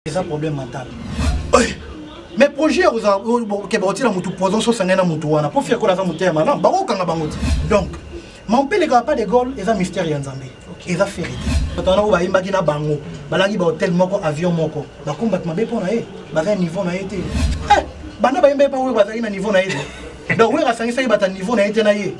eza problème mental mais projet ya kozala keba kotila motu poison sosangani na motu wana mpo fiakola aza moteya malamu bakokanga bango te donc mampeleka pas de gole eza mystère ya nzambe eza ferite bato wana oyo bayembaki na bango balaki bahotel moko avion moko bakombaki mabe mpo na ye baza niveau na ye te eh, banda bayembaki mpa oyo bazalaki na niveau na ye te donc oyo asangisaki bata niveau na ye te na ye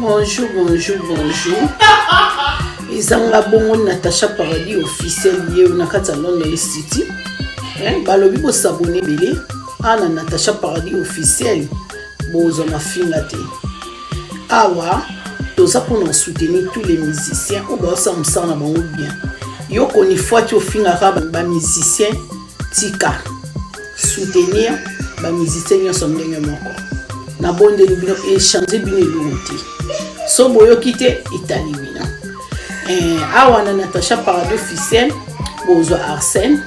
bonjour bonjour bonjour ezanga bongo natacha paradis officiel ye na kati ya london city eh, balobi bosabone ebele ana natacha paradis officiel bozwa mafinga te awa toza mpona soutenir tous les musiciens oyo baosala mosala na bango bien yo konifwati ofingaka bamusicien tika soutenir bamusicien nyonso ndenge moko nabondeli bino echange bino elongo te so boyoki te etali bino eh, awa na natacha parado officiel bozwa arsène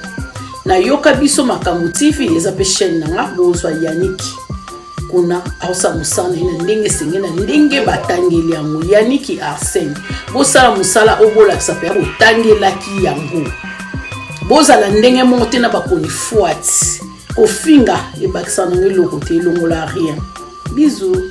nayoka biso makambo tv eza mpe chaîne na nga bozwa yaniki kuna aosala mosala na ye na ndenge esenge na ndenge batangeli yango yaniki arsene bosala mosala oyo bolakisa mpe botangelaki yango bozala ndenge moko te na bakonifwati kofinga ebakisa nango eloko te elongola rien bizu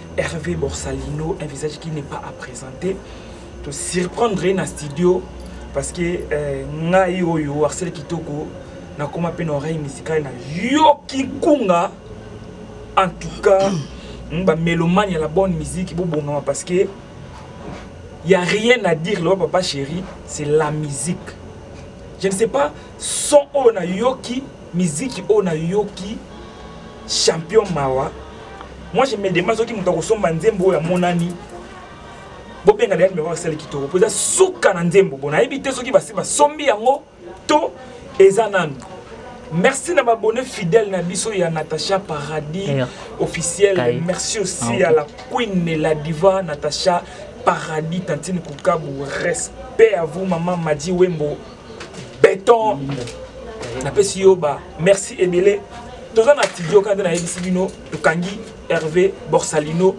Hervé Borsalino, un visage qui n'est pas à présenter. To surprendre na studio parce que euh, ngai oyo Arsène Kitoko nakoma pe na oreille musicale na yoki kunga en tout cas hmm, ba mélomane ya la bonne musique bobongama parce que y a rien à dire le papa chéri c'est la musique je ne sais pas son oyo na yoki miziki oyo nayoki champion mawa moi je me demande soki moto akosomba nzembo oyo amonani bobenga dayani meko asali kitoko mpo eza suka na nzembo bo nayebi te soki basi basombi yango to eza nanu merci na babone fidèle na biso ya natacha paradis Air. officiel Kai. merci aussi ah, okay. à la queen la diva natacha paradis tantine kukabu respect à vous maman madi wembo beton napesi yo ba merci ebele toza na studio kaka nde nayebisi bino tokangi herve borsalino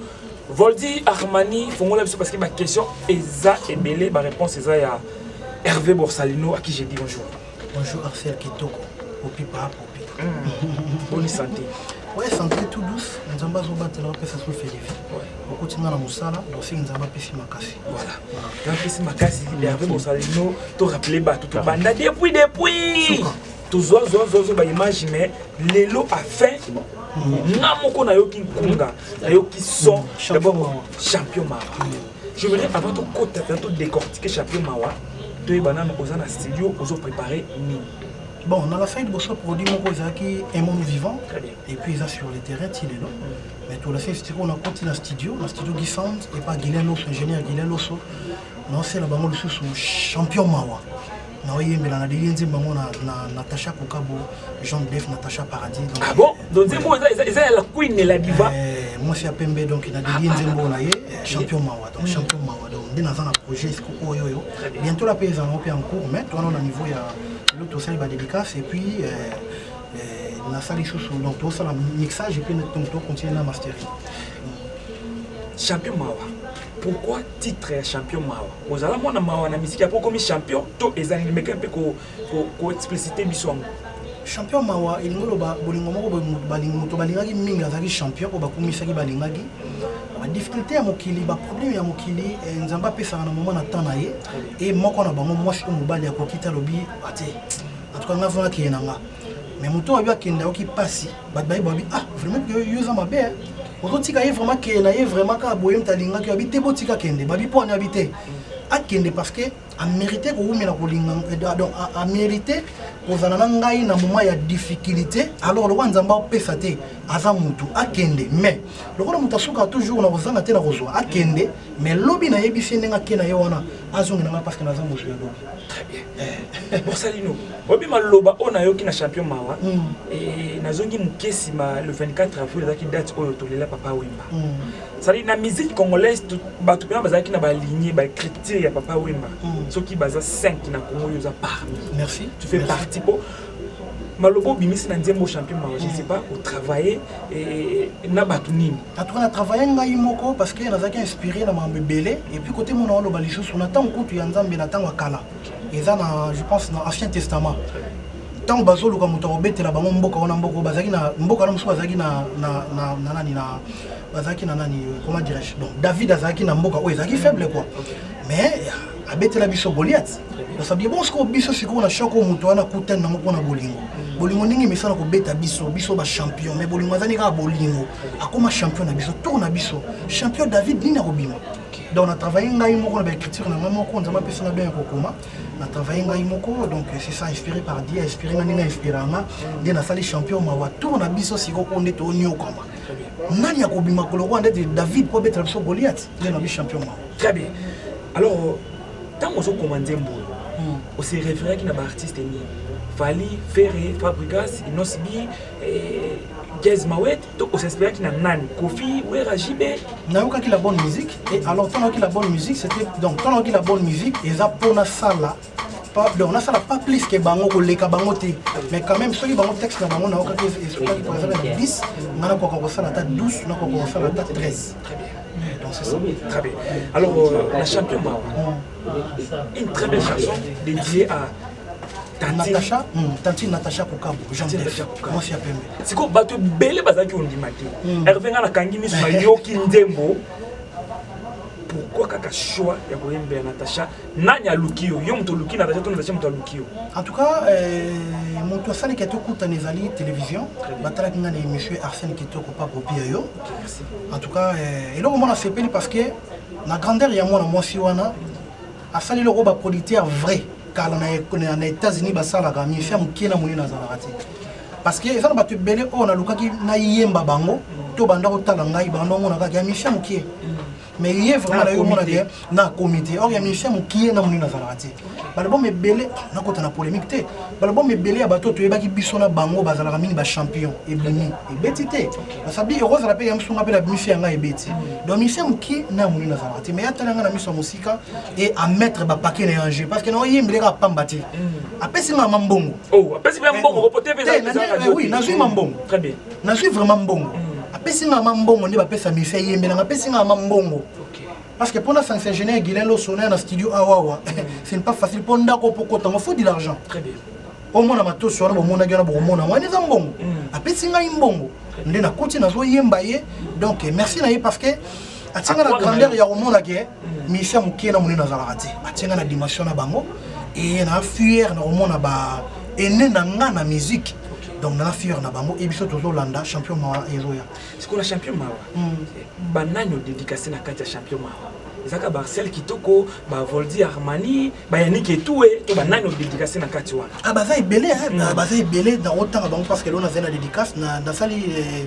voldi armani fongola biso parce que baquestion eza ebele baréponse eza ya herve borsalino à qui je dis bonjour bonjour arcel kitoko opipa boni sante oye sante tout douce nzambe azobatela opesa so felifi okoti nga na mosala dosing nzambe apesi makasi apesi makasi herve bosalino to rappele bato tobanda depuis depuis tozwa zwa zwa zwa baimage mais lelo afin nga moko nayoki nkunga nayoki son dabord champion mara je voudrais avant tokota to décortiquer champion mawa toyeba nano oza na studio ozo prépare nini Bon, dans la fin, Bosso produit mon cause qui est mon vivant, et puis ils sur le terrain, il est là. Mais tout la fin, c'est qu'on a compté dans le studio, dans le studio Guy Sand, et pas Guilain Losso, ingénieur Guilain Losso. Non, c'est la bango sous champion Mawa. na oyembela na leli nzembo yango na natacha kokabo jean def natacha paradis ah bon donc nzembo eza ya la queen la diva eh, mwasi ya pembe donc na leli nzembo na ye eh, champion mawa donc mm. champion mawa donc nde naza na projet sikoyo oyo bientôt la mpe ezala ngo mpe en cours mais towana na niveau ya L'autre aussi ba dédicace et puis euh, euh, la salle chouchou donc tout ça la mixage et puis donc tout continuer la mastering. Champion Mawa. Pourquoi titre ya champion Mawa Ozala mwana Mawa na musique ya poko mi champion to ezali meka mpe ko ko, ko expliciter biso yango. Champion Mawa elingi loba bolingo moko balingi moto balingaki mingi azalaki champion mpo bakumisaki balingaki badifficulté ya mokili baproblème ya mokili eh, nzambe apesaka na moma na temps na ye e moko na bango mwasi to mobali akoki te alobi ate ah, antuka nga vraimen akeye na nga me moto oyo akende ayoki mpasi bato baye babi ah vraimen yo eza mabe eh. ozotika ye vraimen akeye na ye vraimen kaka boye moto alingaki abi te botika kende babi mpo ani abi te akende parce que amérite kowumela kolinga eh, donc amérite kozala na ngai na moment ya difficulté alors lokola nzambe apesa te aza mutu akende mais lokola moto asukaka toujours na kozanga te na kozwa akende mm. mais lobi nayebisi ye ndenge ake na ye wana azongela ngai parce que naza mozwi ya lobi très bien eh. bosali no oyebi maloba oyo nayoki na champion mawa hmm. eh, nazongi moke nsima le 24 avril ezalaki date oyo tolela papa wemba hmm. sali na musique congolaise bato mpena bazalaki na baligne bacriture ya papa wemba hmm. soki baza 5 na congo oyo oza parmi merci tu fais partie mpo maloba obimisi na nzembo champion mawa je sais pas otravaille eh, na bato nini en tout cas na travaille ngai moko parce que nazalaki inspiré na makambo ebele et puis côté mona oloba lisusu na ntango kutu ya nzambe na ntango ya kala eza na je pense na ancien testament ntango bazoluka moto akobetela bango mboka wana mboka bazalaki na mboka wana mosusu bazalaki na nani na bazalaki na nani comment dirais-je donc david azalaki na mboka oyo ezalaki faible quoi mais abetela biso goliath osabie bongo sikoyo biso sikoyo na shoko oyo moto wana akutani nango mpo na bolingo bolingo ndenge emesana kobeta biso biso bachampion mai bolingo azali kaka bolingo akóma champion na biso tour na biso champion david nini akobima donc na travaille ngai moko na baécriture na ngai moko nzambe apesa na bien ya kokoma na travaille ngai moko donc c'est ça inspiré par dieu inspiré nga ndenge inspiranga nde nasali champion mawa tour na biso sikoyo oyo nde toonyokama nani akobima kolokola ndete david mpo abetela biso goliath nde na bi champion mawa très bien alors ntango ozokoma nzembo oyo hmm. ose référaki na baartiste nini fali ferre fabrigas inosbi eh, jazz mawet to osinspiraki na nani kofi wera jb nayokaki la bonne musique et alors ntango nayoki la bonne musique c'était donc ntango nayoki la bonne musique eza mpo nasala pas donc nasala pas plus que bango koleka bango te mais quand même soki bango texte na bango naokaki esokaki par exemple na 10 nga nakoka kosala ata 12 nakoka kosala ata 13 donc c'est ça très bien alors euh, la champion mawa mm. une très belle chanson dédiée à Natacha, mm, tantine Natacha Kokabo, Jean Def, moi si apembe. Siko bato ebele bazalaki ondima te. Mm. Hervé nga nakangi miso nayoki nzembo. Pourquoi kaka choix ya koyembela Natacha nani aluki yo yo moto oluki na version to na version moto aluki yo en tout cas euh, moto asali ke tokutana ezali télévision batalaki ngai na émission arsène kitoko pa kopia yo en tout cas euh, eloko mwana asepeli parce que na grandeur ya mwana mwasi wana asali eloko bapolitière vrai kala na états-unis basalaka mifi ya mokie na monene azalaka te parce que eza na bato ebele oyo nalukaki nayemba bango to banda kotala ngai banda omonakaka ya mifi ya mokie mais ye vraiment nayo omona ke na comité or ya musicien mokie na monene azalaka te balbum ebele nakota na polémique te balbum ebele ya bato toyebaki biso na bango bazalaka mingi bachampion ebimi ebeti te basabi ekozala mpe ya msunga mpe na bimisi ya ngai ebeti donc musicien mokie na monene azalaka te mais atala ngai na miso ya mosika e amettre bapake na ya jeu parce que naoyembeleka apamba te apesi ngai mambongo nazwi mambongo nazwi vraiment mbongo mm. apesi nga ma mbongo nde bapesa misa eyembelanga apesi nga ma mbongo parce que mpona sanction ingénieur guilin losona na studio awawa ah, mm. ce n'est pas facile mpo ndako mpo kotango faut de l'argent omona matosi wana bomonaki wana bokomona wana eza mbongo mm. apesi ngai mbongo nde nakuti nazoyemba ye donc merci na ye parce que atinga na grandeur ya komona ke misia mokie na monene azalaka te atinga na dimension na bango eye na fuere na komona ba ene na nga na musique donc na fiere na bango ye biso tozolanda champion mawa ezoya sikoyo na champion mawa hmm. banani odedikase na kati ya champion mawa ezalaka barcel kitoko bavoldi armani bayaniki etue to banani odedikase na kati wana ah, baza ebele hmm. ah, baza ebele nakotanga bango parce que lona azali na dédicace nasali eh,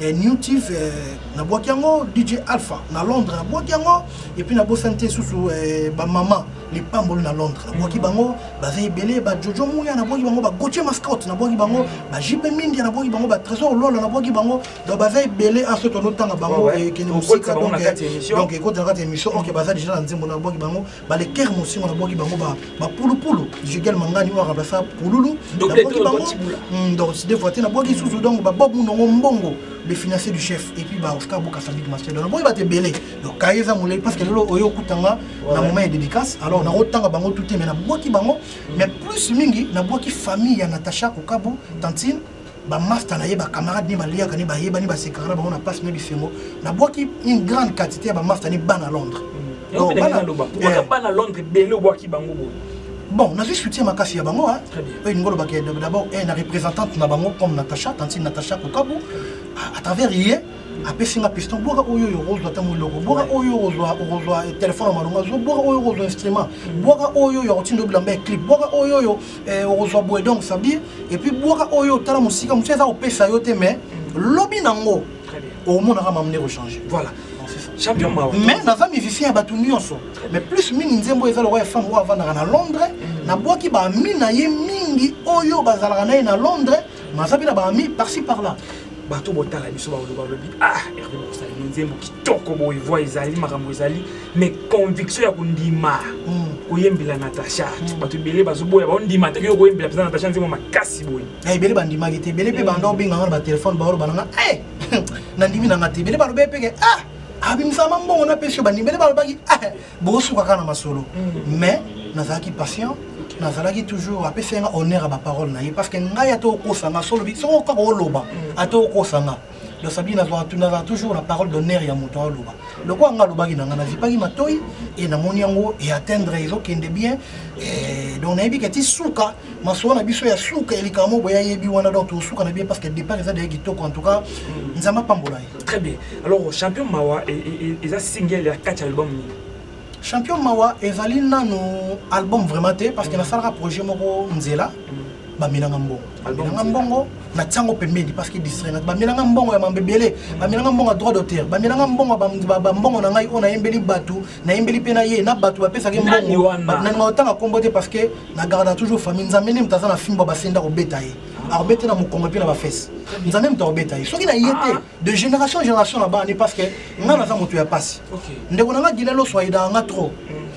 eh, new tif eh, nabwaki yango dj alpha na londres nabwaki yango epuis nabosani te susu eh, bamama lipamboli na londres nabwaki mm. bango baza ebele bajojo muya nabwaki bango bagotie mascote nabwaki bango bajipe mindia nabwaki bango batrésor lola nabwaki bango donc baza ebele aso ah, tonotanga bango oh, ekende mosika donc ekotala kati émission ok baza déjà na nzembo nabwaki bango baleker mosingo nabwaki bango bapulupulu jugel mangani oyo remplaça pululu nabwaki bango hmm, donc de fois te nabwaki susu hmm. donc babob munongo mbongo le financier du chef et puis ba Oscar Boka Fabrique Master donc boy ba te belé donc kaeza moulé parce que lelo oyo kutanga na moment ya dédicace alors na rotanga bango tout mais na boki bango mais plus mingi na boki famille ya Natacha Okabu tantine bamasta na ye bacamarade ni baliaka ni bayebani basekaka na bango na mpasi na bisengo nabwaki une grande quantité ya bamasta ni bana londres bana londres ebele obwaki bango boye bon nazwi soutien makasi ya bango oyo elingi olobaka d'abord eh, na représentante na bango comme natacha tantine natacha kokabu à travers ye apesi nga piston bwaka oyo oyo okozwa ntango eloko bwaka oyo okozwa okozwa telefone ya malonga zo bwaka oyo okozwa instrument bwaka oyo oyo akotinda obilamba ya clip bwaka oyo oyo eh, okozwa boye donc ça dire et puis bwaka oyo otala mosika mosusu eza kopesa yo te mais lobi nango omonaka mamu nde kochange voilà champion mawa mais naza musicien ya bato nyonso mais plus mingi nzembo eza lokola ya femme oyo avandaka na londres mm. nabwaki baami na ye mingi oyo bazalaka na ye na londres maza mpe na baami parci par là bato botala biso baloba balobi ah herve bokosala no nzembo kitoko boye voi ezali makambo ezali mais conviction ya kondima hmm. koyembela natacha hmm. bato ebele bazoboya baondima te yo koyembela mpenza natacha nzembo makasi boye eh, ebele bandimaki te ebele mpe hmm. banda obenga nga na batelefone baoloba nanga eh, nandimi nanga te ebele balobee mpeke ah abimisama mbongo na pesi yo bandimeli balobaki ah, bokosuka kaka na masolo mm. mais nazalaki patient nazalaki toujours apesaki nga honneur ya baparole na ye parce que ngai ata okosa nga solobi soko kaka oloba mm. ata okosa nga donc sabi nazala toujours na parole d'honneur ya moto aloba lokola nga alobaki na nga nazipaki matoi e namoni yango eatteindre ezokende bien donc nayebi ke ti suka masuwa na biso ya suka ya likambo boye ayebi wana donc tosuka na bien parce que départ eza deya kitoko en tout cas nzambe apambola ye très bien alors champion mawa e, e, e, eza single ya kati album nini champion mawa ezali nano album vraiment te parce que mm. nasalaka projet moko nzela mm. bamelanga mbongo bamelanga mbongo na tiango pembeni parce que distraire bamelanga mbongo ya mambo ebele mm. bamelanga mbongo ya droit d'auteur bamelanga mbongo bambongo na ngai oyo nayembeli bato nayembeli mpe na ye na bato bapesaki mbongo nani maotanga nkombo te parce que na garda toujours famille nzambe nde moto aza na fimbo basenda kobeta ye akobeta na mokongo mpe na bafese nzambe moto akobeta ye soki na ye te ah. de génération génération na bani parce que ngai naza moto ya mpasi ndeko na ngai gile loso ayidaka ngai trop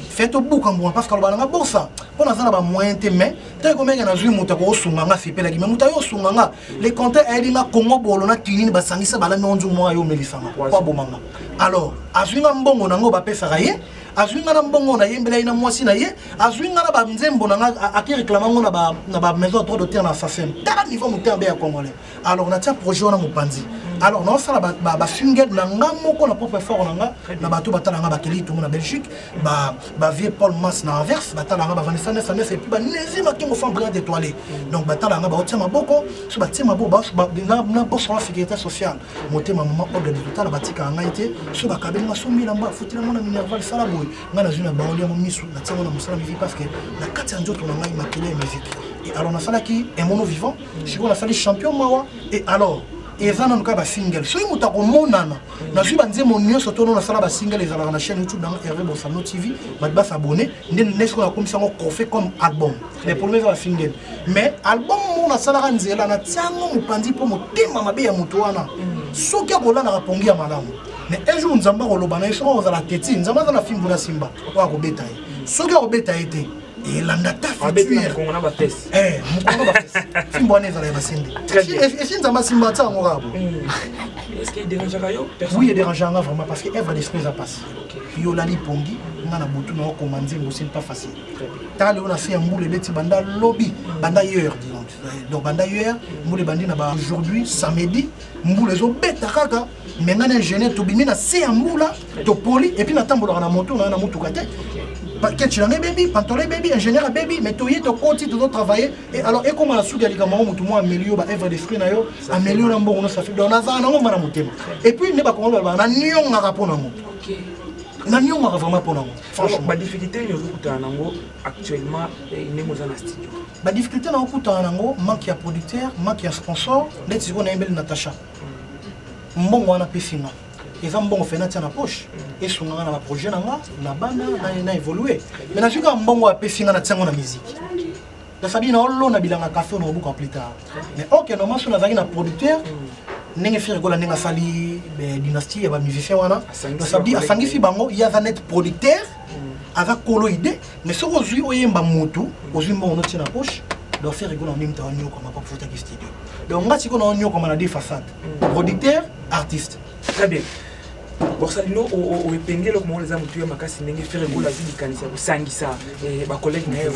fe tobuka mbuma parce que aloba na ngai bosa mpo naza na bamoyen te mais ntango ekomeke nazwi moto akokosunga ngai asepelaki mais moto ayo osunga ngai le compteur ayebi nga congo bolo na kinini basangisa balami onzu mwa yo omelisanga po abomanga alors azwi nga mbongo na ngo bapesaka ye azwi nga na mbongo na yembela ye na mwasi na ye azwi nga na banzembo na nga ake reklama ngo na bamaison ya droit d'auteur na sasem tala niveau motema be ya congolais alors natia projet wana mopanzi alors naosala basingle na nga moko na propre effort na nga na bato batala nga bakeli tongo na belgique ba ba vieux Paul Mas na Anvers batalanga bavandisa nefa nefa epuis banezi makingo fan brigade étoilé mm. donc batalanga baotia maboko so batie maboko na boso na sécurité sociale motema mama ordre de totala batikaka ngai te so bakabeli nga so milamba afutela mwana minerval sala boye ngai nazwi na baoli yango misu natiango na mosala mivi parce que na kati ya nzoto na ngai makele ya miziki et alors nasalaki emono vivant mm. sikoyo nasali champion mawa et alors eza nanu kaka basingle soki moto akomonana nazwi banzembo nyonso tono nasala basingele ezalaka na chaîne youtube nango herve bosano tv bato basabone nde nesi oyo nakomisa yango cofe comme album les problème eza basingele mais album moko nasalaka nzela natiango mopanzi mpo motema mabe ya moto wana soki akolalaka pongi ya malamu mais un jour nzambe akoloba na ye soki akozala teti nzambe aza na fimbu na simba oyo akobeta ye soki akobeta ye te elanda ta fimbo wana ezala ya basende esi nzambe asimba ata yango kaka oui ederangeanga vraiment parce que evre d'esprit eza mpasi yo olali pongi nga na butu na okoma nzembo sili pas facile tala lelo na se ya mbula ebeti banda lobi banda hier donc banda hier mbula ebandi na ba aujourd'hui samedi mbula ezobeta kaka me ngai na ingénieur tobimi na se ya mbula topoli epuis natambolaka na moto na na motuka te ketch na ngai ebebi pantola ebebi ingénieur abebi mais toye tokoti tozo travaille e alors ekoma na suki ya likambo yango motu mwa amelio ba evre de fruit na yo amelio na mbongo nosafi donc nazala nango mba na motema epuis nde bakongo balobaka na niongaka mpo nango na niongaka vraiment mpo nango franchement badifficulté nini ozokutana nango actuellement eh, ndenge oza na studio badifficulté na okutana nango manque ya producteur manque ya sponsor ndeti sikoyo nayembeli natacha mbongo wana apesi nga eza mbongo fena atia na poche esunga nga na baprojet na nga na bana na évolue mai nazwi kaka mbongo apesi nga na tiango na miziki nasabi na olona bilanga kafe oyo nakobuka plus tard mais ok normal so nazalaki na producteur ndenge fere kola ndenge asali dynastie ya bamusicien wana nasabi asangisi bango ye aza net producteur aza kolo idée mais soki ozwi oyemba motu ozwi mbongo notie na poche donc faire rigolo nini mutaka nyokoma pa futaki studio donc nga sikoyo na nyokoma na deux façade producteur artiste très bien bokosala lino oepenge eloko moko eza motuya makasi ndenge fere gola azwi likanisi ya kosangisa bacollègue na ye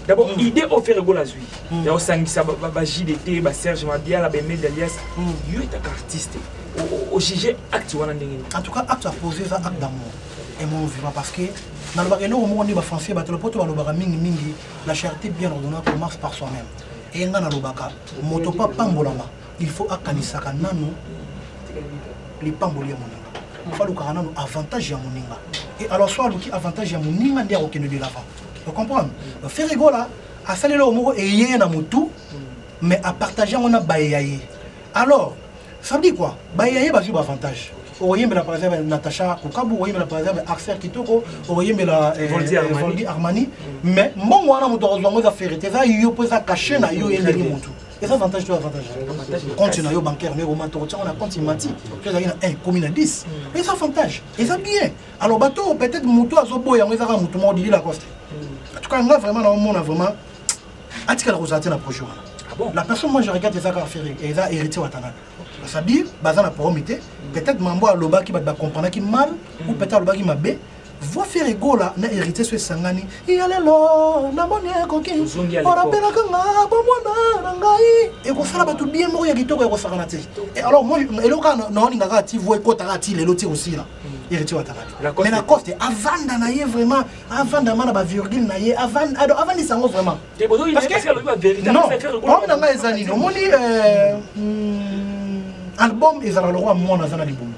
d'abord idée oyo ferre gola azwi ya kosangisa bajdt baserge mabiala bemede alias yo etaka artiste ojuge acte wana ndenge nini en tout cas acte apose eza acte d'amour emono vivant parce que nalobaka eloko moko nde bafrançais bato lopoto balobaka mingimingi la charité bien ordonnant commence par soi-même eye ngai nalobaka moto mpo apambolama il faut akanisaka nano lipamboli ya moninga mpo alukaka nano avantage ya moninga e alors so aluki avantage ya moninga nde akokende de l'avant ocomprendre donc ferre gola asali eloko moko eye na motu mais apartage yango na baye ya ye alors ça veut dire quoi baye ya ye bazwi baavantage okoyembela par exemple natacha kokabu okoyembela par exemple axel kitoko okoyembela eh, Voldy eh, Armani. voldi armani mais mbongo wana moto akozwa yango eza ferre te eza yo mpo eza cache na yo ye ndenge motu eza avantage to avantage compte na yo bancaire ndenge omata okotyango na compte imati to ezalaki na 1 komi na 10 eza avantage eza bien alors bato oyo peut-être moto oyo azoboya yango ezaka moto moko didi lacoste en tout cas nga vraiment naomona vraiment atikala kozala te na projet wana Ah bon? la personne moi je regarde eza kaka ferre eza héritier watanabe c'est-à-dire baza na problème te peut-être mambo alobaki bato bacomprenaki mal ou peut-être alobaki mabe voix ferre egola na héritier so esangani ya lelo namoni ekoki Ozongi ya lekoko. orapelaka nga bomwana na ngai ekosala bato bien moko ya kitoko ya kosakana te Et alors moi eloko kaka naolinga kaka ti voix ekota kaka ti lelo ti kosila héritier watara mais na coste avanda na ye vraiment avanda ma na bavirgule na ye avandisa yango vraiment problème na ngai eza nini omoni euh, hmm, album ezalaka lokola mwana aza na libumu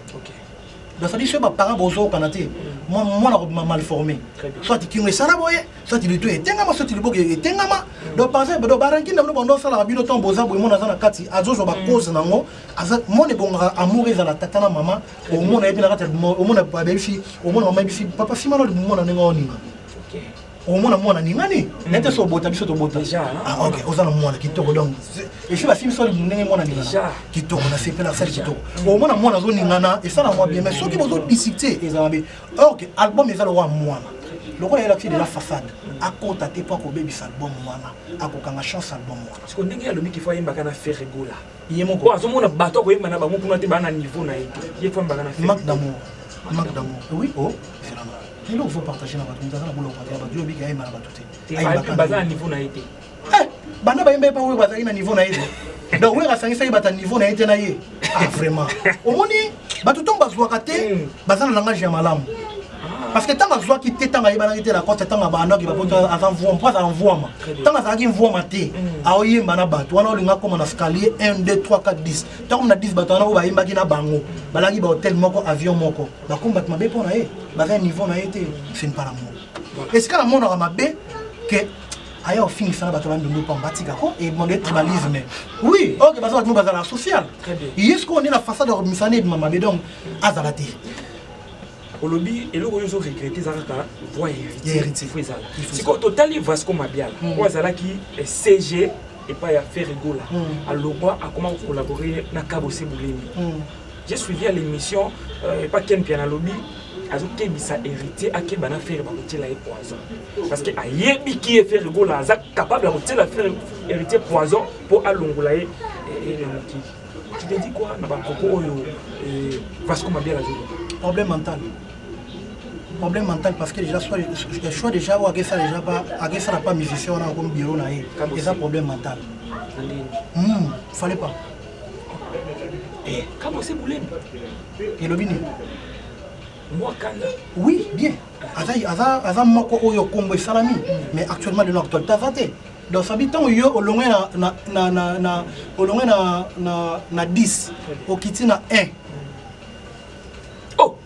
basali soki baparent bozokana te mwana akobima mal formé soit kingo esala boye soit litu etengama soit liboko etengama donc par exemple donc baranki na bino bando osalaka bino ntango boza boye mwana aza na kati azozwa bacause nango mwana ebongaka amour ezala tata na mama omona yebi na kati ya buma omona babebi fi omona mama yebi fi papa fi mano libumona ndenge oninga omona mwana ningani nete so obota biso tobota ah, ok oza na mwana kitoko donc efi bafimi so ndenge mwana ningana kitoko nasepela asali kitoko omona mwana azoningana esala mwa bien mais soki bozodisite eza mabe or ke album eza lokola mwana lokola yelakisi deja façade akota te mpo akobebisa album wana akokanga chance album wana ndenge alobi kifo ayembaka na ferregola ye moko po azomona bato akoyemba na bango kuna te baa na niveau na ye te ye fambaka na manque d'amour manque d'amour oui o oh, zelanga lelo ozo partage na bato moto aza na bola kopatela bato yo obiki ayemba na bato te baza na niveau na ye te eh, banda bayemba ye pa oyo bazalaki na niveau na ye te donc oyo asangisaki bato na niveau na ye te na ye ah vraiment omoni bato ntongo bazwaka te hmm. baza na langage ya malamu parce que ntango azwaki te ntango ayebanaki te lacoste ntango abandaki bapoto aza mvuama mpo aza mvuama ntango azalaki mvuama te hmm. aoyemba na bato wana olinga akoma na scalier 1 2 3 4 10 ntango na 10 bato wana oyo bayembaki na bango balaki bahotel moko avion moko bakomi bato mabe mpo na ye baza niveau na ye te fin palamour esika namonaka mabe ke aya ofingisa na bato ya bandundu pamba tika ko ebonde tribalisme oui ok baza bato bazala social ye sikoyo nde na façade ya kobimisa na ebima mabe donc azala te olobi eloko oyo ozoregrete eza kaka voi ya héritier fo ezala sikoyo totali vasco mabiala hmm. oyo azalaki eh, cg epai ya ferre gola hmm. alongwa akoma kocollabore na kabose bolemi hmm. J'ai suivi à l'émission euh, pas Ken Piana Lobby azokebisa héritier akeba na fere bakotiela ye poison parce que ayebi ki ye fere gola aza capable ya kotiela fere héritier poison mpo alongola ye eh, eh, na mokili tu te dis quoi na bankoko oyo eh, vasco mabiala azoloba problème mental problème mental parce que déjà soit je choix déjà ou agesa déjà pas agesa na pas musicien wana comme bureau na ye eza problème mental hmm, fallait pas Eh, kama se bulemi elobi nini mwa kanda oui bien aza, aza, aza moko oyo kongo esalami mais actuellement lelo actualité aza te donc sabi ntango yo olongwe na, na, na, na, na, olongwe na, na, na 10 okiti na 1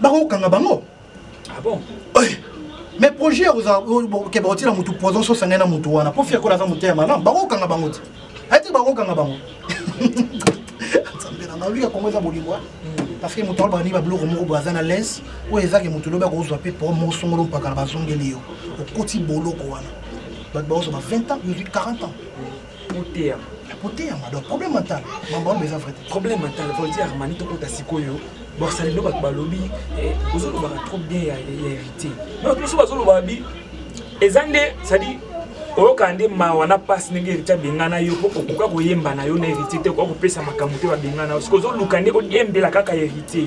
bakokanga bango ah bon eh, mais projet ya kozala ke bakotiela motu poison sosa ngai na motu wana mpo fiakola aza moteya malamu bakokanga bango te ayete bakokanga bango nzambe na ngai oyoka kongo eza bolingo parce que moto alobaka nini babiloko moko boye aza na lese oyo ezake moto lobi akozwa mpe po moko songolo mpakala bazongeli yo okoti boloko wana bato bakozwa ba 20 ans ozwi 40 ans oteyama koteyama donc problème mental mambo yango eza vrai problème mental volti armani tokota sikoyo borsalino bato balobi eh, ozolobaka trop bien ya héritier donc biso bazolobaka bi eza nde cestadire oyokaka nde mawa na mpasi ndenge héritier abengana yo mpo okoka koyemba na yo na héritier te okoka kopesa makambo te babengana yo soki ozoluka nde oyembela kaka héritier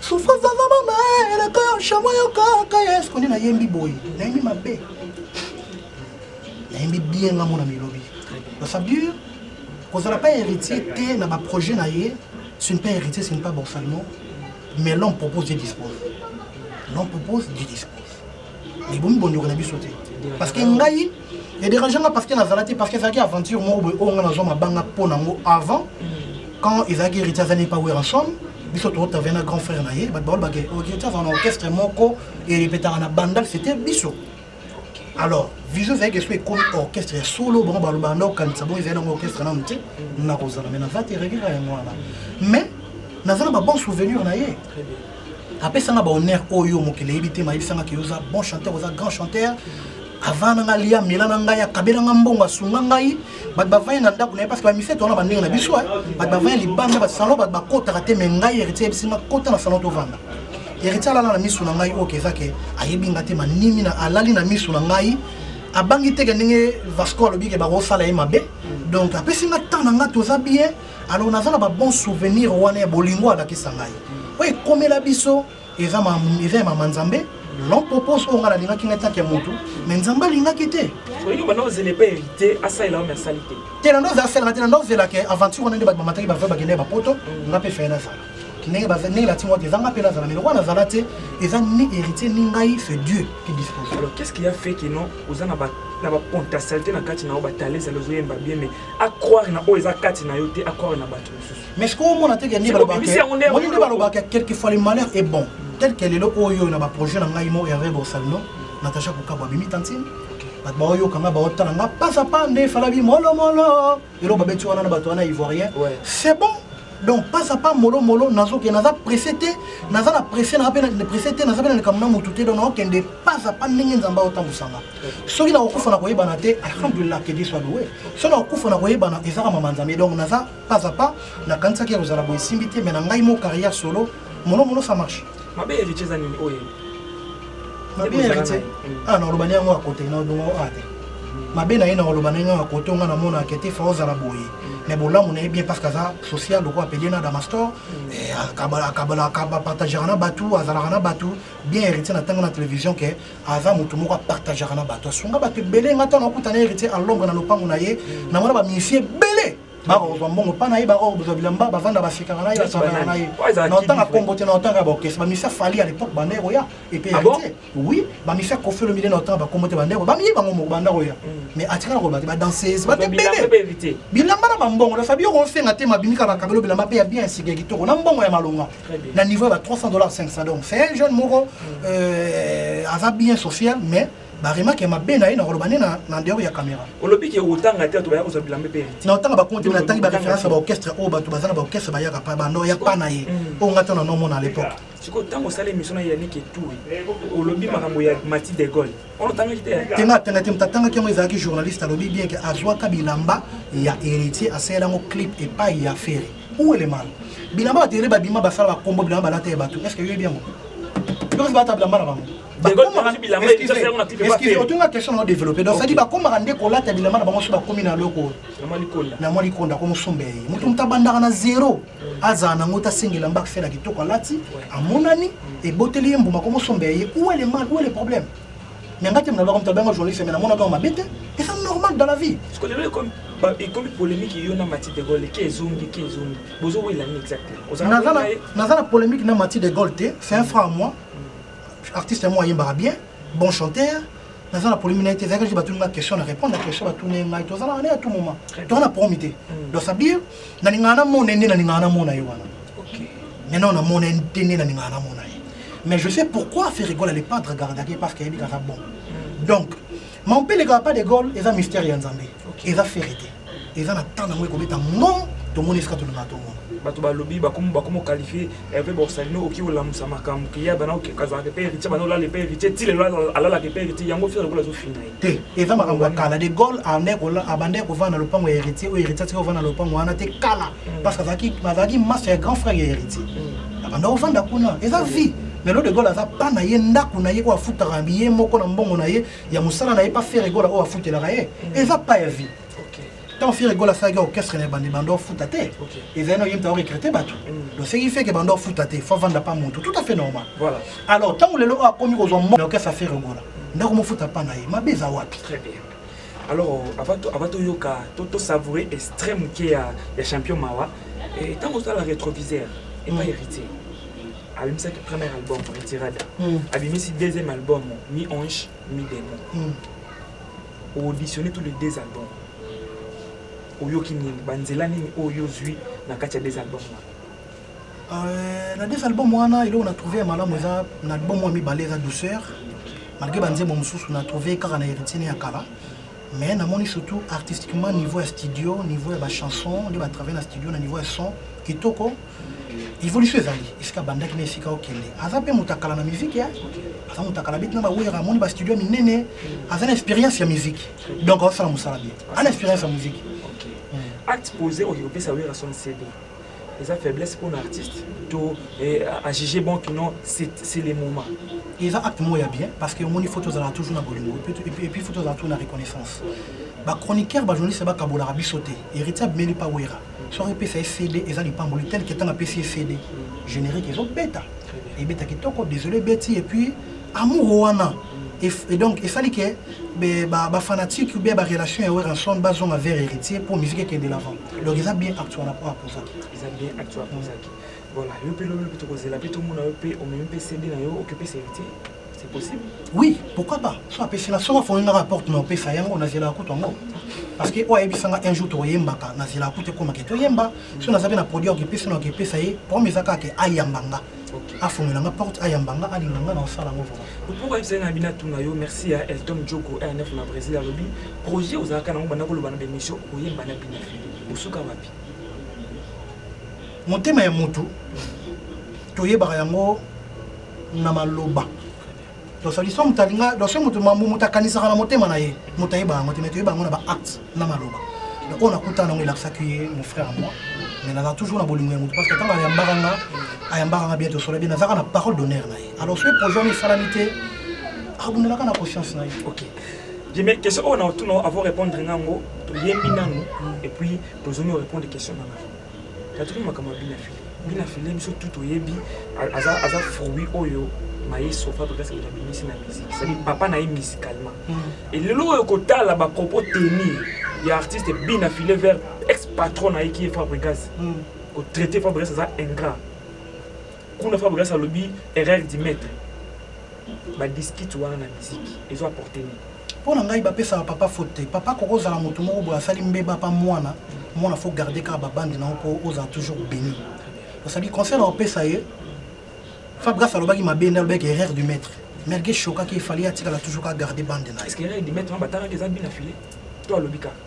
souffrance aza mama eleka ya shamo yokaka yesu koni nayembi boye nayembi mabe nayembi bien nga mona milobi basabir kozala pas héritier te na baprojet na ye ce n'est pas héritier ce n'est pas borsalino mais l'homme propose dieu dispose l'homme propose dieu dispose mais bomi bondoka na biso te parce que ngai ya dérange nga parce que nazala te parce que ezalaki aventure moko boye oyo nga nazwa mabanga mpo na yango avant mm. quand ezalaki héritier azali pa wera chambre biso totavai na grand frère na ye bato baolo bake héritier azala na orchestre moko erepetaka na bandal c'était biso alors vision ezalaki esu ekomi orchestre ya solo bango balobaka nde okanisa bongo ezali nango orchestre nano te nakozala mai naza te regera yango wana mais naza na babon souvenir na ye apesanga ba honneur oyo mokili eyebi te mayebisanga ke oza bon chanteur oza grand chanteur avant nanga lia mela na ngai akabela nga mbongo asunga ngai bato bavandi na ndako na ye parce que bamiseto wana bandenge na biso bato bavandi libanda basalon bato bakotaka te me ngai héritier yebisi nga kota na salon tovanda héritier alala na miso na ngai oyo keza ke ayebi nga te manimi na alali na miso na ngai abangi teke ndenge vasco alobi ke bakosala ye mabe donc apesi nga temps na nga toza bien alors naza na ba bon souvenir wana ya bolingo alakisa ngai oyo ekomela biso eza eza ya mama nzambe non propose oyo ngai nalingaki ngai tanke ya motu me nzambe alingaki te te nando azelaka te nando azelaka aventure wana nde bato bamataki bavai bakendaki bapoto mm. nga mpe feye nazala ndenge ndenge natingo eza nga mpe nazala mais lokola nazala te eza ni héritier ni ngai c'est dieu qui dispose alors qu'est ce qui a fait que non oza na ba na ba potentialité na kati na yo ba talents ezali ozoyemba bien mais a croire na oyo eza kati na yo te a croire na bato mosusu mais sikoyo omona te kende balobakaoni nde balobaka quelque fois le malheur est bon tel que lelo oyo na baprojet na ngai mo herve borsalino natacha kokabwa abimi tantine bato baoyoka ngai baotala ngai pasa pa nde efalabi molomolo eloko babeti wana na bato wana ivoirien c'est bon donc pasa pa molomolo nazoke naza presse te naza na presse naza mpe presse te naza mpe na likambo na motu te donc naokende pasa pa ndenge nzambe aotambwisanga soki nakokufa na koyebana te alhamdulillah que dieu soit loué soki nakokufa na koyebana ezaka mama nzambe donc naza pas à pas nakanisaki ya kozala boye esimbi te mais na ngai mo carrière solo mono mono ça marche mabe héritier eza nini oyo mabe héritier ah nakolobani yango ya kote naodongo a te mabe na ye nakoloba na ye ngai ya kote ngai namona akete fa ozala boye mais bolamu na ye bien parce que aza social lokola apeli na damastor akabapartagera na bato azalaka na bato bien héritier na ntango na télévision ke aza moto moko apartageaka na bato asunga bato ebele ngai ntango akuta na héritier en lombre na lopango na ye namona bamisie ebele bakozwa mbongo mpa na ye bakozwa bilamba bavanda basekaka na ye basalaka na ye na otanga kombo te na otanga baorkestre bamisia fali à l'époque banda ekoya epe ah héritier oui bamisia kofi olomide na otanga bakombo te banda ekoya bamiye bango moko banda koya mm. mais atikala koloba te badanseuse bate ebele bilamba na bambongo nasabi yo kosenga te mabimika bakabelo bilamba mpe ya bien esika ya kitoko na mbongo ya malonga na niveau ya ba 300 dollars 500 donc c'est un jeune moko mm. euh, aza bien social mais baremake mabe na ye na koloba nde na ndeyoko ya caméra olobi ke otanga te bato baya kozwa bilambe mpe na otanga bakonte mpe natangi baréférence ya baorchestre oyo bato baza na baorchestre bayaka pa bando ya pa na ye mm. oyo ngai to na nomona à l'époque sikoyo ntango osala émission na yannick etoui olobi makambo ya mati de gaulle ono otangaki te te nga atanga te moto atangaki yango ezalaki journaliste alobi bien ke azwaka bilamba ya héritier asalela yango clip epai ya ferre où est le mal bilamba bato yele babima basala bakombo bilamba balata ya bato est ce que yoyebi yango yokosi balata bilamba na bango otunga question nao développe donc sadi bakomaka nde kolata bilamba na bango so bakomi na loko na mwa likonda ko mosomba ye moto moto abandaka na zero azala nango te asenga elamba akisela kitoko alati amonani eboteli ye mbuma ko mosomba ye où est le mal où est le problème mais nga te mnalobaka moto abengaka journaliste mais namonaka yango mabe te eza normal dans la vie parce que lelo ekomi ekomi polémique yo na mati de gaulle ke ezongi ke ezongi bozowela nini exactement naza na polémique na mati de gaulle te c'est un franc à moi mm. artiste yango ayembaka bien bon chanteur naza na polémique na ye te ezalaki batuni nga question na répondre na question batuni ngai tozalaka ne ya tout moment toza na promi te mm. donc ça veut dire nalingaka namona ye nde nalingaka namona ye wana maintenant namona ye te nde nalingaka namona ye mais je sais pourquoi ferigol ale pas dragardaki parce que ayebi kaka bon donc mampeleka pas de gol eza mystère ya nzambe eza feri te eza na temps nango ekobeta ngom tomoni esika tolingaka tomona bato balobi bakomi bakomi okalifie Hervé Borsalino oki olamusa makambo kiya bana okazalaka epai héritier bana olala epai héritier ti lelo alalaka epai héritier yango fere lokola azofina ye te eza makambo ya kala de gaulle abandaki kovanda na lopango ya héritier oyo héritier atikaki kovanda na lopango wana te kala mm. parce que azalaki maso ya grand frère ya héritier mm. abanda kovanda kuna eza vie mais lelo de gaulle aza pa na ye ndako na ye oyo afutaka ye moko na mbongo na ye ya mosala na ye pa fere gola oyo afutelaka ye mm. eza pa ya vie ntango fere gola asalaki orchestre na ebandi banda ofuta te ezali na oyemta orecrete bato mm. donc seki feke banda ofuta te fo avanda pa motu tout à fait normal alors ntango lelo oyo akomi kozwa mo na orchestre ya fere gola ndako mofuta mpa na ye mabe eza wapi alors avant toyoka tosavoure extrait moke ya champion mawa ntango eh, osala rétroviseur epa mm. héritier abimisaki premier album retirada mm. abimisi deuxième album mi ange mi démon o auditionner tous les deux albums oyoki nini banzela nini oyo ozwi na kati ya deux albums wana Euh, na des album wana eloko na trouve ya malamu eza na album oyo mibale eza douceur malgré banzembo mosusu na trouve kaka na héritier ne ya kala mais namoni surtout artistiquement niveau ya studio niveau ya bachanson nde batravaille na studio na niveau ya son kitoko evolution ezali esika abandaki na esika okende aza mpe moto akala na miziki ya aza moto akala beti na bawera amoni bastudio minene aza na expérience ya miziki donc aosala mosala bien ana expérience ya miziki acte posé oyo opesa wera son cd eza faiblesse mpo na artiste to eh, ajuge bon kino c'est le moment eza acte moko ya bien parce que omoni fo tozalaka toujours na bolingo epuis fo tozalaka toujours na reconnaissance bachroniqueur bajournaliste bakabolaka biso te héritier abimeli pa wera soki epesa ye cd eza lipamboli tel que ntango apesi ye cd générique ezobeta ebeta kitoko désolé ebeti et puis amour wana et, et donc esali ke bafanatique ou bien barelation ya weranson bazonga vers héritier mpo musique ekende l'avant donc eza bien acte wana mpo apozaki eza bien acte apozaki voilà yo mpe lobelo mpe tokozela mpe tomona yo mpe omemi mpe cd na yo okipesa héritier C'est possible Oui, pourquoi pas So apesi nga, soki afongi nga porte na opesa yango, nazelaka kutu yango. Parce que oyo ayebisa nga un jour tokoyembaka, nazelaka kutu ekoma ke toyemba. So naza mpe na produit ya kopesa na kopesa ye, problème eza kaka ke ayamba nga. afongela nga porte ayamba nga alinga nga na osala yango vraimen mpo oyebisa nga bina tuna yo merci ya elton joko rnf na brésil alobi projet ozalaka nango banda koloba na bemission okoyemba na bina osuka wapi motema ya motu toyebaka yango na maloba dosalisa moto alinga doso moto moto akanisaka na motema na ye moto ayeba yango te me toyeba yango na baacte na maloba donc oyo nakutana yango elakisaki ye mon frère moi mais naza toujours na bolingo ya moto parce que ntango ayambaka nga ayambaka nga bien tosola bien nazaka na parole d'honneur na ye alors soki projet wana esalami te abundelaka na conscience na ye ok jeme question oyo na otuna avo répondre nga yango toyembi nanu et puis tozongi orépondre question na nga Tatoki makambo ya bina file bina file biso tu toyebi aza, aza fruit oyo maestro fabrigas moto abimisi na musique cetadi papa na ye musicalement mm. elelo oyo kotala bapropos teni ya artiste bina file vers ex patron na ye ki ye fabrigas mm. kotraite fabrigas aza ingrat kuna fabrigas alobi erreur du maître badiskite wana na musique ezo apporte nini Mpo na ngai bapesaka papa faute te. Papa akoki kozala moto moko boye asali mbeba apa mwana, mwana faut garder kaka ba bande na yo mpo ozala toujours beni. Osali conseil na kopesa ye, Fabregas alobaki mabe nde alobaki erreur du maître. Mergue shokaki il fallait atikala toujours kaka garder bande na ye. Est-ce que erreur du maître wana batalaki eza but na filet to alobi kaka?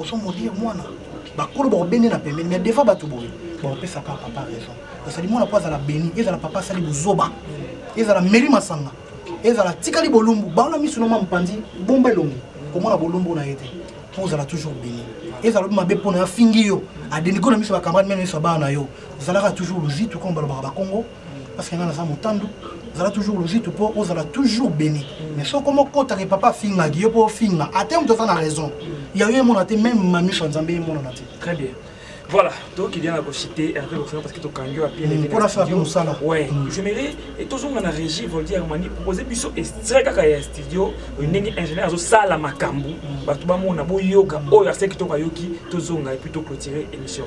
ozo molire mwana bakolo bakobende na pembeni mais defa bato boye bakopesaka papa raison basali mwana mpo azala beni ezala papa asali bozoba ezala meli masanga ezala tikali bolumbu baona miso noma mopanzi bomba elongi komona bolumbu na ye te mpo ozala toujours beni ezala obi mabe mpo na yo afingi yo adeniko na miso bakamrade mene miso ya bana na yo ozalaka toujours luzitu koma balobaka bakongo parce que nga naza motandu zala toujours logique mpo ozala toujours béni mais soki koma okotaka papa afingaki yo mpo ofinga ata moto aza na raison ya yo emona te meme mamisha nzambe emonana te très bien Voilà, donc il y en a cité Hervé Boxer parce que tu as à pied. Pour la faire comme ça là. Ouais, mm. je mérite et tous on a régi Voldi Armani proposer biso extrait kaka ya studio ndenge ingénieur azo sala makambu mm. batu ba mona bo yoka mm. oyo aseki to ka yoki to zonga et puis to clôturer émission.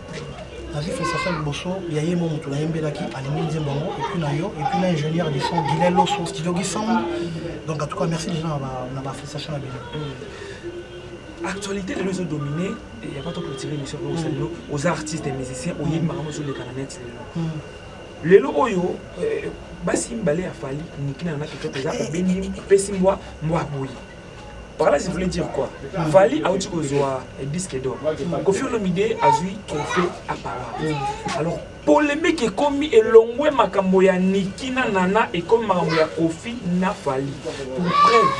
nazwi félicitation liboso ya ye mo moto nayembelaki alingi nzembo yango epuis na yo epuis na ingénieur de son guilin loso studio gisound donc en tout cas merci déjà na bafélicitation na bino hmm. actualité lelo ezodomine ya pas toclotire émission oyo osali yo oza artiste et musicien oyebi hmm. makambo ezoleka na net lelo hmm. lelo oyo eh, basi mibale ya fali niki na yo na kitoto eza obendi mpesi mbwa mbwa boyi Par là, je voulais dire quoi Vali a dit que disque d'or. Kofi Olomide a joué trophée à Paris. Alors, polémique est commis et l'ongwe makambo ya Niki na Nana et comme makambo ya Kofi na Vali. Pour preuve,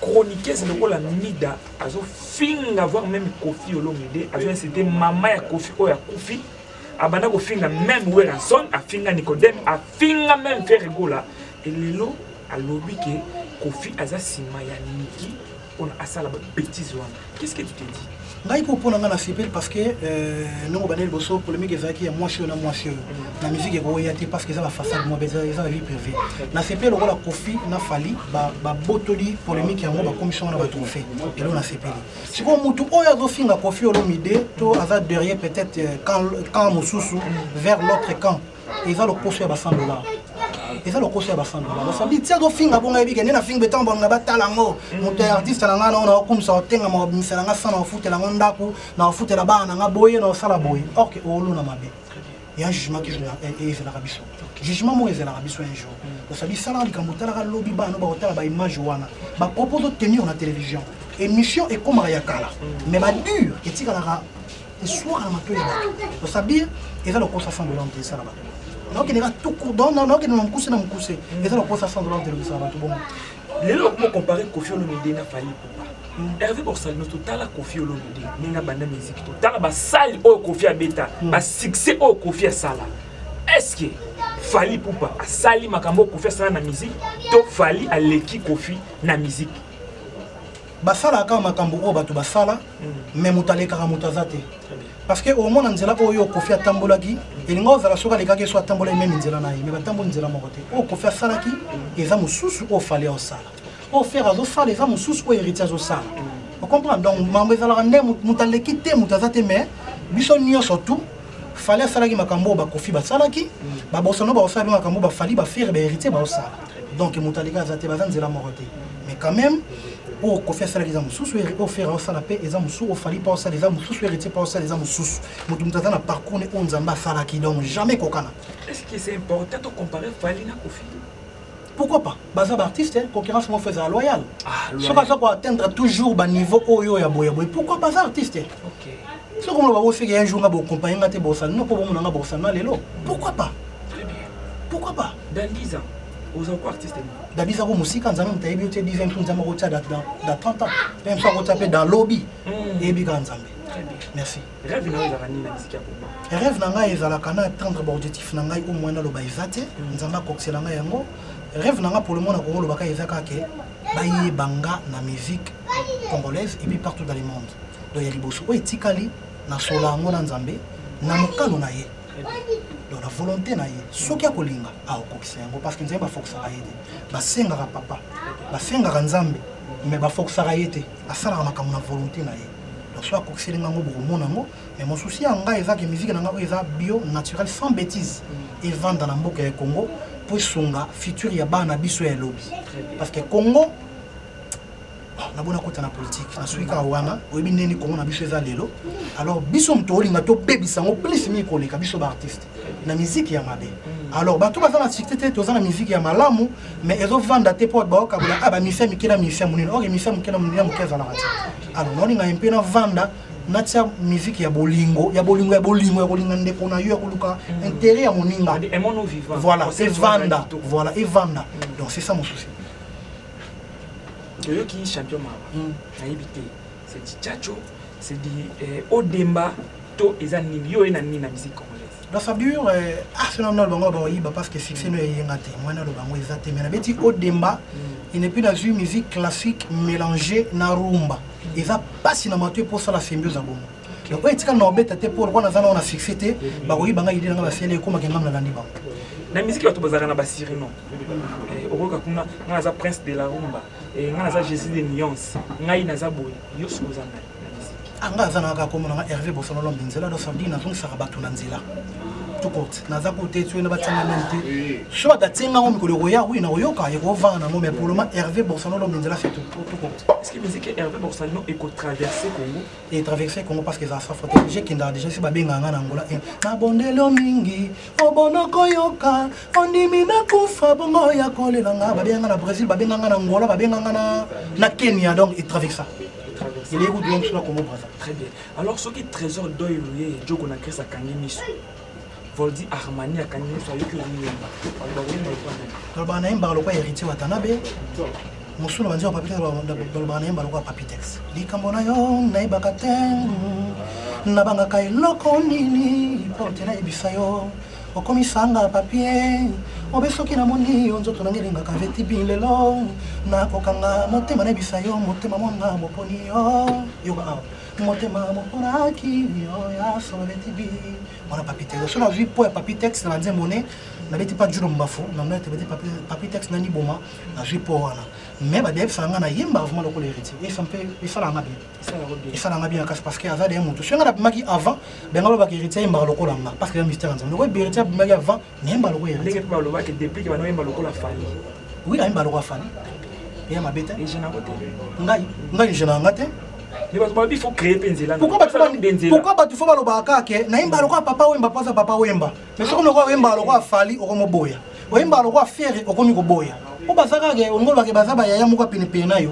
chroniqueuse lokola Mida azo finga voir même Kofi Olomide, azo inciter maman ya Kofi oyo akufi. abanda kofinga meme werrason afinga nicodeme afinga meme ferregola Et lelo alobi que Koffi aza sima ya Nicky pona asala ba bêtises wana. Qu'est-ce que tu te dis? ngai mpo mpo na ngai nasepeli parce que euh, ndenge obanda liboso polémique ezalaki ya mwasi oyo na mwasi oyo na musique ekoya te parce que eza bafaçade mwa eza na vie privé nasepeli lokola kofi na fali babotoli polémique yango bakomisi yango na batrophe elo nasepeli sikoyo motu oyo azofinga kofi olomide to aza derrière peut-être euh, camp mosusu vers l'autre camp eza lokoso ya ba 100 dollars eza lokoso ya ba 100 dollars basali ti azofinga bongo ayebi kende nafinga etango balinga batala yango moto ya artiste na ngai nao naokumisa otenga makobimisela ngai sa naofutela yango ndako naofutela bana na ngai boye naosala boye orke oolona mabe ya jugement ke ezelaka biso jugement moko ezelaka biso un jour osali salaka likambo otalaka lobi bana bakotala baimage wana bapropose otenir na télévision émission ekomaka ya kala mais badure etikalaka esuaka na matoi ya bato osabir eza lokosa 100 dollars te esala bato naokendeka tuku donc naokende na mokuse na mokuse mm. eza lokosa 100 dollars te lokisa bato bongo lelo okomo compare kofi olomide na fali pupa mm. herve borsalino totala kofi olomide ndenge abanda miziki totala basali oyo kofi abeta mm. basuccès oyo kofi asala estce fali pupa asali makambo oyo kofi asala na miziki to fali aleki kofi na miziki basalaka kaka makambo oyo bato basala me mm. moto alekaka moto aza te parce que omona nzela oyo kofi atambolaki elinga ozala soki alekaki so atambolaki meme nzela na ye me batamboli nzela moko te oyo kofi asalaki eza mosusu oyo fale osala oyo fere azosala eza mosusu oyo héritier azosala ocomprendre donc mambo ezalaka nde moto aleki te moto aza te mais biso nyonso tout fale asalaki makambo oyo bakofi basalaki mm. babosano baosala mpe makambo bafali bafere bahéritier baosala donc moto aleka aza te baza nzela moko te mais quand même oyo oh, kofi asalaki eza mosusu oyo oh, fere osala mpe eza mosusu oyo oh, fali mpa osala eza mosusu héritier mpa osala eza mosusu moto moto aza na parcours ne oyo nzambe asalaki donc jamais kokana pourquoi pas baza baartiste hein? concurrence moko eza loyal ah, soki aza koatteindre toujours baniveau oyo ya boyaboye pourquoi baza artiste hein? soki omona bakoseki un jour nga bokompagne nga te bosala no mpo bomona nga bosala na lelo pourquoi pas pourquoi pas Dandiza, oza ko artiste ni? Dandiza ko musika nzambe mutu ayebi yo te dizaine mpo nzambe akotia dans 30 ans mpe mpe akotia mpe dans lobi hmm. eyebi kaka nzambe merci rêve na ezalaka nini na miziki ya koma rêve na ngai ezalaka na atteindre baobjectif na ngai omoi naloba eza te hmm. nzambe akokisela ngai yango rêve na ngai polomona kongo lobaka eza kaka ke bayeba nga na musique congolaise epuis partout dans le monde donc ya liboso oyo etikali nasola yango na nzambe na mokano na ye donc na volonté na ye soki akolinga akokokisa yango parce que nzambe bafokisaka ye te basengaka papa bafengaka nzambe mais bafokisaka ye te asalaka makambo na volonté na ye donc soki akokiseli ngango bokomona yango mais mosusi ya ngai ezaki miziki na ngai oyo eza bio naturel sans bétise mm. evanda na mboka ya congo mpo esunga futur ya bana biso ya lobi parce que congo na bona kota na politike nasuki kaka wana oyebi ndeni kongo na biso eza lelo alors biso moto olinga tobebisa yango plus mingi koleka biso baartiste na miziki ya mabe mm. alors bato baza na site te toza na miziki ya malamu mais ezovanda te mpo baokabola a ah, bamisia mike na misia monene oke misia moke na monene ya moke ezalaka te alors naolinga ye mpe navanda natia miziki ya bolingo ya bolingo ya bolingo ya kolinga ndeko na yo ya koluka mm. intere ya moninga voilà evanda voilà evanda mm. donc c'est ça mon souci oyoki champion mawa hmm. nayebi te c'est du chacho c'est du eh, odemba to eza nini yo oye na nini na musique congolaise na fabure eh, arsenal na lobango baoyiba parce que succès no eyenga te mwana lobango eza te mais nabeti odemba hmm. ene mpe nazwi musique classique mélange na rumba hmm. eza mpasi na mato eposala symbiose ya bongo donc oyo etika naobeta te mpo lokola naza nao na succès te bakoki banga idée nanga basele ekomaki ngam nalandi bango na miziki bato bazalaka na basirino eh, okoyoka kuna ngai naza prince de la rumba eh, ngai naza jésus de nuance ngai naza boye yo soki oza ngai anga ah, aza naka komonanga herve bosololombe nzela dosardi nazongisaka bato na nzela tukote naza kote soki na batyanga meme te so bato atyenga yango mikolo ekoya wi nakoyoka ekovanga nango mais poloma herve borsalino lomenzela se tukote e traverse congo parce que eza sa faute je kendaka déjà si babengaka nga na angola e nabondelo mingi obonoko yoka ondimi nakufa bongo ya kolela nga babenga nga na brésil babenga nga na angola babenga nga na kenya donc e traversa eleki kutu yo mosu na congo braza très bien alors soki trésor doy oye joko na grèce akangi miso Voldy Armani akangi nyonso ayoki oyemba aloba oyemba lokola nani balobaka nayembaka lokola héritier watanabe mosusu na banzela papitex balobaka nayemba lokola papitex likambo na yo nayebaka te nabangaka eloko nini mpo te nayebisa yo okomisanga papie obe soki namoni yo nzoto nange elingaka vetibi lelo nakokanga motema nayebisa yo motema mwana moponi yo yoka awa motema moponaki yo ya solo beti bi mwana papitex so nazwi mpo ya papitex na banzembo ne nabeti mpa julo mbafu na mna tebeti papitex nani boma nazwi mpo wana mais badeyebisaka ngai nayemba vraiment lokola héritier esalaka nga bien esalaka nga bien kasi parce que aza deye motu soki ngai nabimaki avant benga lobaka héritier ayembaka lokola nga parce que ya mystère ya nzambe lokola héritier abimaki avant nayemba lokola heritier ndenge mpe balobaki deplique bana oyemba lokola fali oui nayemba lokola fali eya mabe te ejana yango te ngai ngai ejana yanga te babi faut créer mpe nzela pourquoi bato fo balobaka kaka ke nayemba lokola papa oyemba mpo aza papa oyemba mais soki lokola oyemba lokola fali okomoboya oyemba lokola fere okomi koboya mpo baza kaka olingolobake baza bayaya moko ya penepene na yo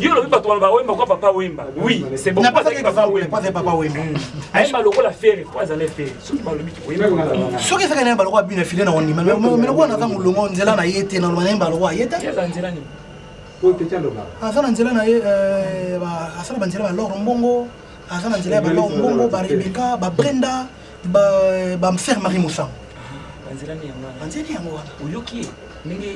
yo olobi bato baloba wemba kwa papa wemba oui c'est bon azalaki papa wemba hmm. ayemba lokola fere po azala fere soki balobi soki ezaka nayemba lokola bina file na ondima me lokola naza molongo nzela na ye te naloba nayemba lokola ye te aza na nzela na ye asala banzela balor mbongo aza na nzela ya balor mbongo barebeka babrenda ba mfer marie mosango banzelami yango wana banzeli yango wana oyoki ye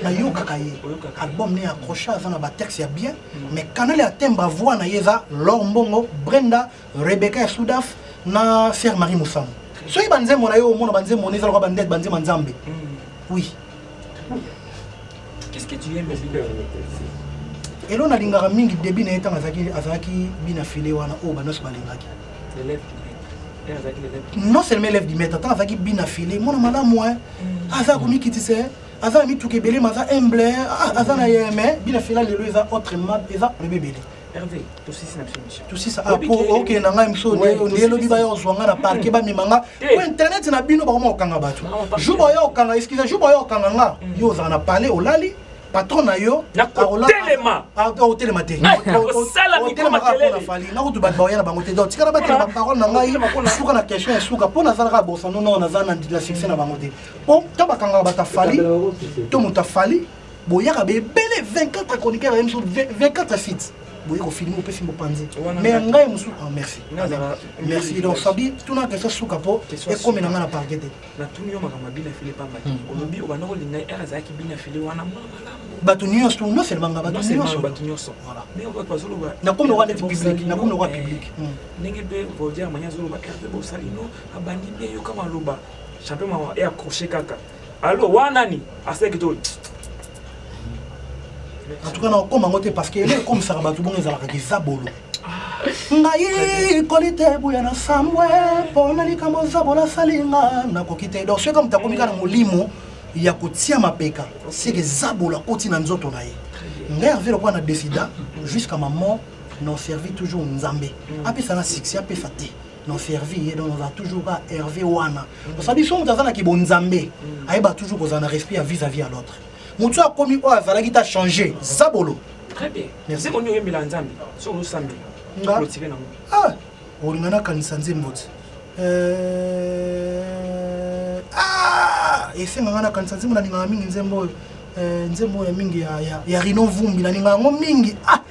nayokaka ye album ne accroche aza na batexte ya bien hmm. mais canal ya temba voi na ye eza lor mbongo brenda rebecca ya sudaf na fer marie mosango soki banzembo na yo omona banzembo na ezalaka bandete banzembo ya nzambe hmm. oui Qu'est-ce que tu aimes Elo nalingaka mingi début na ye ntango azalaki azalaki bina filet wana oyo banyonso balingaki. Non seulement élève du maître, ntango azalaki bina filet mwana malamu hein. Mm. Aza komikitisa hein. aza na mituka ebele ma aza humble hein. ah, aza na yeme bina filet lelo eza autrement eza ebebele. Hervé, tosisi na biso mission. Tosisa ah po okay na ngai miso nde lobi ba yo zwanga na parquet hmm. ba mimanga. Ko eh. internet na bino ba koma okanga batu. Jour ba yo okanga excuse jour ba yo okanga nga. Hmm. Yo za na palais olali patron na yo akotelema akotelema te osala mikoma telele nakutu bato baoya na bango te donc tikala batela baparole na ngai suka na question ya suka mpo nazalaka bosa nono naza na succès na bango te mpo to bakangaka bato afali to moto afali boyaka bebele 24 chroniqueur na ye mosusu 24 site boye kofilme opesi mopanzi me ya ngai mosusu ah, merci merci donc fabi tuna kesa suka mpo ekomela ngai na parke te natuni yo makambo ya bina file pamba te hmm. olobi obanda kolinga ye ere azalaki bina file wana mwana malamu bato nyonso non seulement nga bato nyonso bato nyonso nakomi oka neti public nakomi oka public ndenge mpe voldiamani azoloba rpe bosalino abandi mpe yoka maloba champion mama e accroche kaka Allo wa nani aseki to en tout cas nakokoma yango te parce que ele ekomisaka bato bongo ezalaka kizabolo ngai kolite ebuya na sambwe mpo na likambo zabo nasali nga nakoki te donc soki moto akomi kaka na molimo ya kotia mapeka seke zabolo akoti na nzoto na ye ngai herve lokola na décida jusqu'à ma mort non servi toujours nzambe apesa na succès apesa te non servi ye donc ozala toujours ka herve wana osali so moto aza na kibonzambe ayeba toujours kozala na respect ya vis à vis ya l'autre motu akomi oyo azalaki ta change zabolo très bien merci koni oyembela nzambe so osambe nga ah olinga nakanisa nzembo ti euh, ah esenga nga nakanisa nzembo nalingaka mingi nzembo oyo euh, nzembo oyo ya mingi ya rino vumbi nalingaka yango mingi ah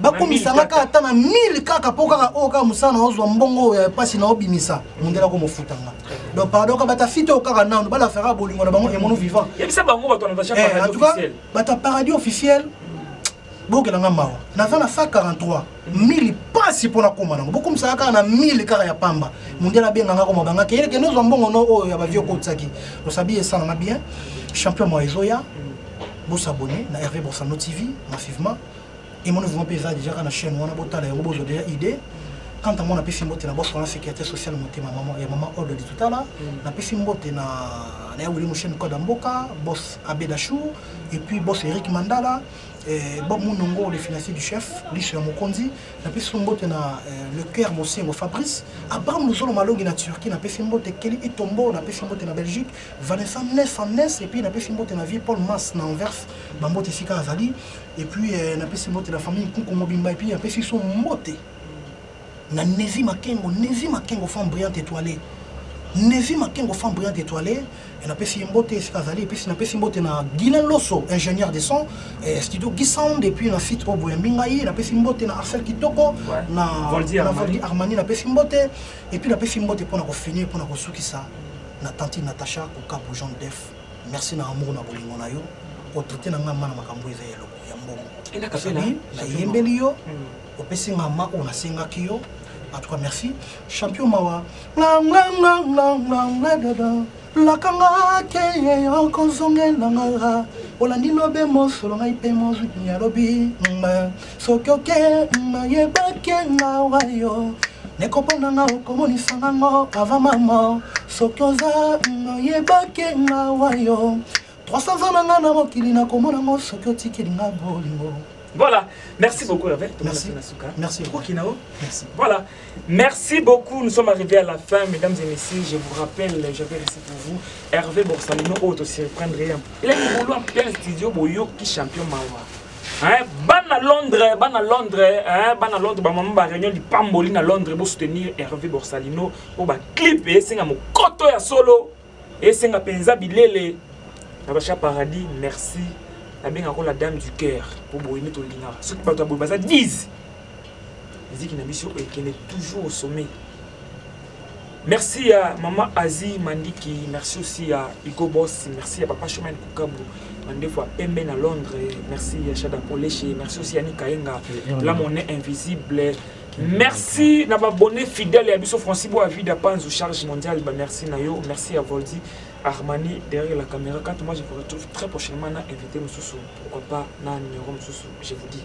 bakumisa nga kaka ata na 1000 kaka mpo kaka oyo kaka mosala na ozwa mbongo oyo ya mpasi na obimisa mondele ako mofuta nga donc pardon ka bata fite oyo kaka nano balafaka bolingo na bango emono vivant eh, en tout cas bata paradis officiel bokela nga mawa naza na 143 mili mpasi mpo nakoma nango bokomisaka kaka na mili kaka ya pamba mondele abenga nga koma bangaki yeleke nde ozwa mbongo no oyo ya bavio okotisaki osabi esalanga bien champion moa ezoya bosabone na herve borsano tv massivement emoni vraiment mpe eza deja kaka na chaîne wana botala yango bozwa deja idée quant à moi napesi mbote na boss wana sécurité sociale motema mama ya mama ordre litutala mm. napesi mbote na na ya wili mosheni code ya mboka boss abedachou et puis boss eric mandala eh, bob munongo le financier du chef liso ya mokonzi napesi mbote na eh, le cœur mosengo fabrice abraham luzolo malongi na turquie napesi mbote keli etombo napesi mbote na belgique vanessa nes en nes et puis napesi mbote na vie paul mas na anvers bambote esika azali Et puis euh, na pesi mbote la famille Nkuku mobimba et puis na pesi son mbote. Na Nevi Makengo, Nevi Makengo femme brillante étoilée. Nevi Makengo femme brillante étoilée. Et na pesi mbote esika azali et puis na pesi mbote na Guilain Loso, ingénieur de son, et studio Guy Sound et puis na site Obo ya Mbingai, na pesi mbote na Arcel Kitoko, Ouais. na Voldy na Armani. Voldy Armani na pesi mbote et puis na pesi mbote pona ko finir pona ko sukisa na tantine Natacha Kokapo Jean Def. merci na amour na bolingo na yo otraite na ngai mana makambo eza ya eloko ya mbongo osabi nayembeli yo hmm. opesi nga ma oyo nasengaki yo en tout cas merci champion mawa lakanga te okozongelanga olandi lobe mosolo ngai mpe mozwi alobi soki oke mayebaki ngawa yo nekopona nga okomonisa nango ava mama soki oza mayebaki ngawa yo 300 ans na nga na mokili nakomona ngo soki otikeli nga bolingo Voilà, merci beaucoup Hervé. Merci. Merci. Merci. Voilà, merci beaucoup. Nous sommes arrivés à la fin, mesdames et messieurs. Je vous rappelle, j'avais réussi pour vous Hervé Borsalino, autre, oh, s'y reprendrait. Il est pour un studio, Boyo, qui champion Mawa. Hein, bana Londres, bana Londres, hein, bana Londres, ba maman ba réunion lipamboli na Londres pour soutenir Hervé Borsalino pour ba clip et senga mokoto ya solo et senga penza bilele. Nabacha Paradis, merci. Nabenga ko la dame du cœur pour boyini to linga. Ce que pas baza 10. Musique na biso ekende toujours au sommet. Merci ya maman Asie Mandiki, merci aussi ya Hugo Boss, merci ya papa Chemin Kukabu, mandefu ya pembe na Londres, merci ya Shada Poleshe, merci aussi ya Nikaenga, la monnaie invisible. Merci na babonne fidèle ya biso Francis Boa Vida Panzu charge mondiale, ba merci na yo, merci ya Voldi Armani derrière la caméra. Quand moi je vous retrouve très prochainement na invité Mususu, pourquoi pas na numéro Mususu, je vous dis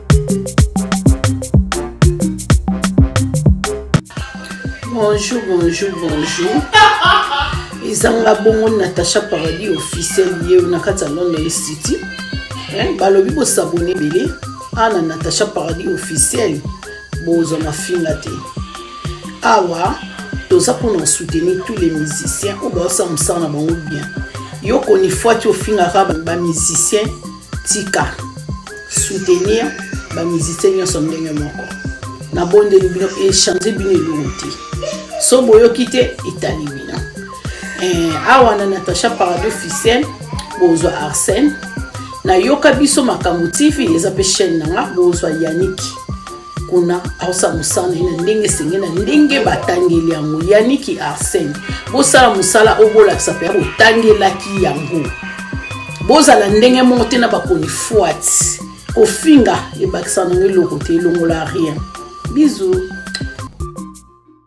bonjour bonjour bonjour ezanga bongo natacha paradis officiel ye na kati ya london city eh, balobi bosabone ebele ana natacha paradis officiel bozwa mafinga te awa toza mpona soutenir tous les musiciens oyo baosala mosala na bango bien yo konifwati ofingaka bamusicien tika soutenir ba musiciens nyonso ndenge moko na bondeli bino echange bino eloko te so boyoki te etali bino eh, awa na natacha parado ficelle bozwa arsène nayoka biso makambo tv eza mpe chaîne na nga bozwa yaniki kuna aosala mosala na ye na ndenge esenge na ndenge batangeli yango yaniki arsene bosala mosala oyo bolakisa mpe botangelaki yango bozala ndenge moko te na bakonifwati kofinga ebakisa nango eloko te elongola rien bizu